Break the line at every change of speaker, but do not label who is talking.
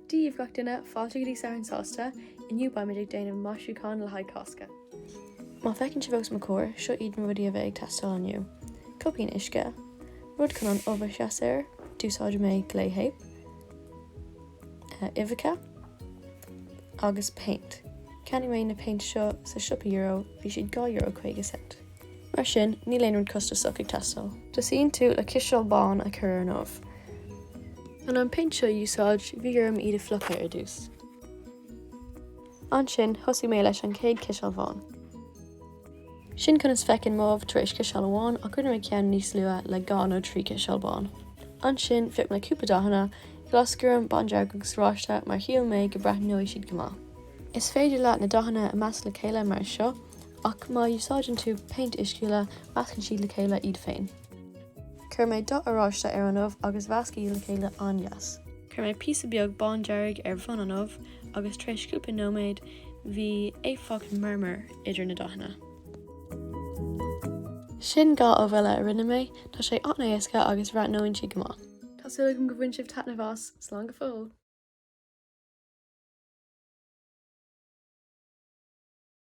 Daoibh gach duine fáilte go dtí Satharn Sásta inniu beimid ag déanamh maisiúcháin le haghaidh Cásca. Mar feiceann sibh os mo chomhair, seo iad na rudaí a bheidh ag teastáil inniu, cupán uisce, rud chun an ubh a sheas air, d'úsáid mé téip, uibheacha agus péint. Cheannaigh mé na péint seo sa siopa Euro, bhí siad dhá euro caoga cent. Mar sin, níl aon rud costasach ag teastáil. Tosaíonn tú le ciseal bán a chur ar an ubh. Chun an péint seo a úsáid, bhí orm iad a fhliuchadh ar dtús. Ansin, thosaigh mé leis an chéad chiseal bhán. Sin conas feiceann m'ubh tar éis ciseal amháin ach rinne mé ceann níos luath le dhá nó trí chiseal bán. Ansin, phioc mé cúpla dathanna, glas, gorm, bándearg agus oráiste mar shíl mé go breathnóidh siad go maith. Is féidir leat na dathanna a mheasc le chéile mar seo Ach má úsáideann tú péint uisciúla, meascann siad le chéile iad féin. Chuir mé dath oráiste ar an ubh agus mheasc iad le chéile an-deas. Chuir mé píosa beag bándearg ar bhun an ubh agus tar éis cúpla nóiméad bhí éifeacht marmair idir na dathanna. Sin dhá ubh eile a rinne mé. Tá sé an-éasca agus bhreathnóinn siad go maith. Tá súil agam go bhain sibh taitneamh as. Slán go fóill!